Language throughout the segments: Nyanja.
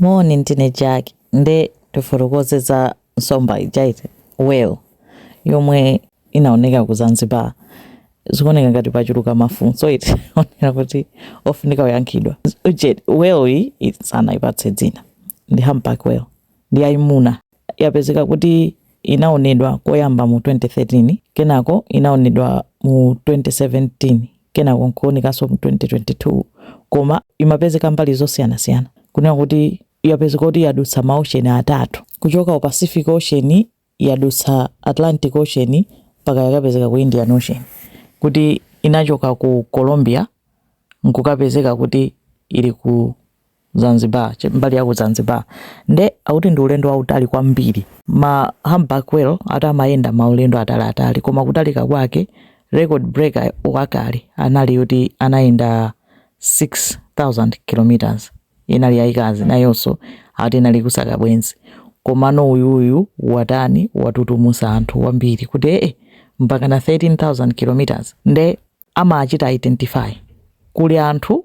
Moni ndine Jack nde tifotokoze za nsomba ija ati whale yomwe inaoneka ku Zanzibar. Zikuoneka ngati pachuluka mafunso ati onena kuti ofunika kuyankhidwa. Nde whale iyi sanayipatse dzina ndi humpback whale ndi yayimuna yapezeka kuti inaonedwa koyamba mu 2013 kenako inaonedwa mu 2017 kenako nkuonekanso mu 2022 koma imapezeka mbali zosiyanasiyana kunena kuti yapezeka kuti yadutsa ma ocean atatu kuchoka ku pacific ocean yadutsa atlantic ocean mpaka yakapezeka ku indian ocean kuti inachoka ku colombia nkukapezeka kuti ili ku Zanzibar, mbali ya ku Zanzibar. Nde akuti ndi ulendo wautali kwambiri. Ma humpback whale ati amayenda maulendo ataliatali koma kutalika kwake record breaker wakale anali yoti anayenda 6000 kilometers inali yayikazi nayonso ati inali kusaka bwenzi komano uyuyu watani watutumusa anthu kwambiri kuti ee mpaka na 13000 kilometers nde amachita identify kuli anthu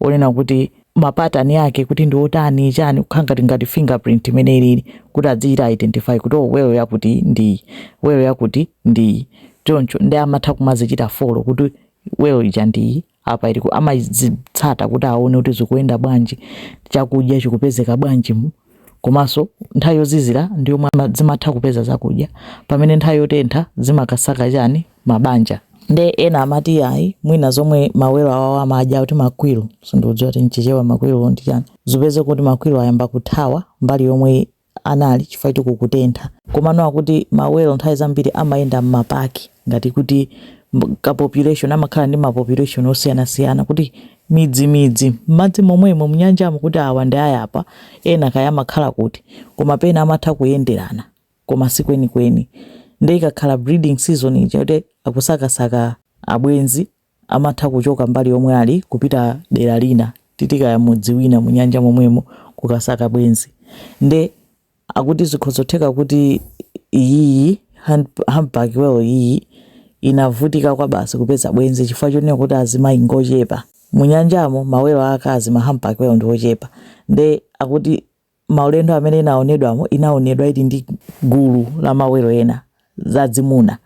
onena kuti mapatani ake kuti ndi otani chani kukhala ngati ngati fingerprint imene ilili kuti adzichita identify kuti oh welo yakuti ndi welo yakuti ndi choncho nde amatha kumazichita follow kuti welo ija ndi apa ili amazitsata kuti aone kuti zikuyenda bwanji chakudya chikupezeka bwanji komanso nthawi yozizira ndi yomwe ama- zimatha kupeza zakudya pamene nthawi yotentha zimakasaka chani mabanja nde ena amati ayi mwina zomwe mawelo awawa amadya kuti ma krill sindikudziwa kuti mchichewa ma krill ndi chani zipezeke kuti ma krill ayamba kuthawa mbali yomwe anali chifukwa choti kukutentha komano akuti mawelo nthawi zambiri amayenda m'mapaki ngati kuti mb- ka population amakhala ndi ma population osiyanasiyana kuti midzimidzi, m'madzi momwemo, m'nyanjamo kuti awa ndi a yapa, ena kaya amakhala kuti, koma pena amatha kuyenderana koma si kwenikweni. Nde ikakhala breeding season ija yoti akusakasaka abwenzi amatha kuchoka mbali yomwe ali kupita dera lina titi kaya mudzi wina mu nyanja momwemo kukasaka bwenzi. Nde Akuti zikhozotheka kuti iyiyi humpback whale iyi inavutika kwabasi kupeza bwenzi chifukwa chonena kuti azimayi ngochepa mu nyanjamo, ma whale aakazi, ma humpback whale, ndi ochepa nde akuti maulendo amene inaonedwamo inaonedwa ili ndi gulu la ma whale ena. zadzimuna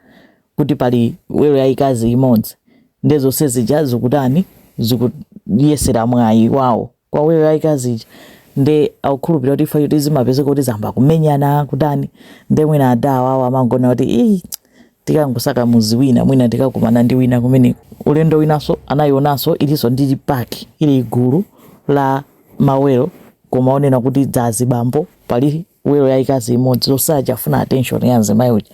kuti pali welo yaikazi imodzi ndiye zonse zija zikutani zikuyesela mwayi wawo kwa welo yaikazi ija nde akukhulupirira kuti ii chifukwa choti zimapezeka kuti zamba kumenyana kutani nde mwina adawa awo amangoona kuti ii tikangosaka muzi wina mwina tikakumana ndi wina kumene ulendo winanso anayionanso ilinso ndi paki ili gulu la mawelo koma onena kuti dzazibambo pali welo yaikazi imodzi zonse zija zafuna attention ya mzimayi uja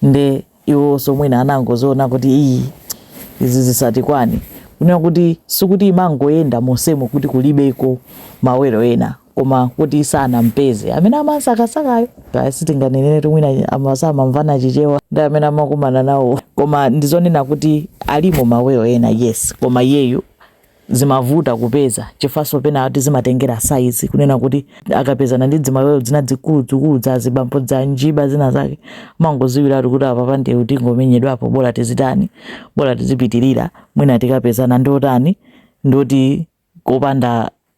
nde iwonso mwina anangoziona kuti iyi izi zisatikwane kunena kuti sikuti imangoyenda monsemo kuti kulibeko mawelo ena koma kuti sanampeze amene amasakasakayo kaya sitinganeneretu mwina amasamamvana chichewa ndi amene amakumana nawo koma ndizonena kuti alimo mawelo ena yes koma iyeyu zimavuta kupeza chifukwanso penatu zimatengera size kunena kuti akapezana ndi dzimawelo dzina dzikulu dzikulu dza zibambo dza njiba zina zake umangodziwiratu kuti apapa nde kuti tingomenyedwapo bora tizitani bora tizipitirira mwina tikapezana ndi otani ndi oti kopanda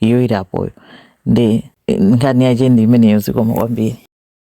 iyo ili apoyo nde nkhani yache ndi imeneyo zikomo kwambiri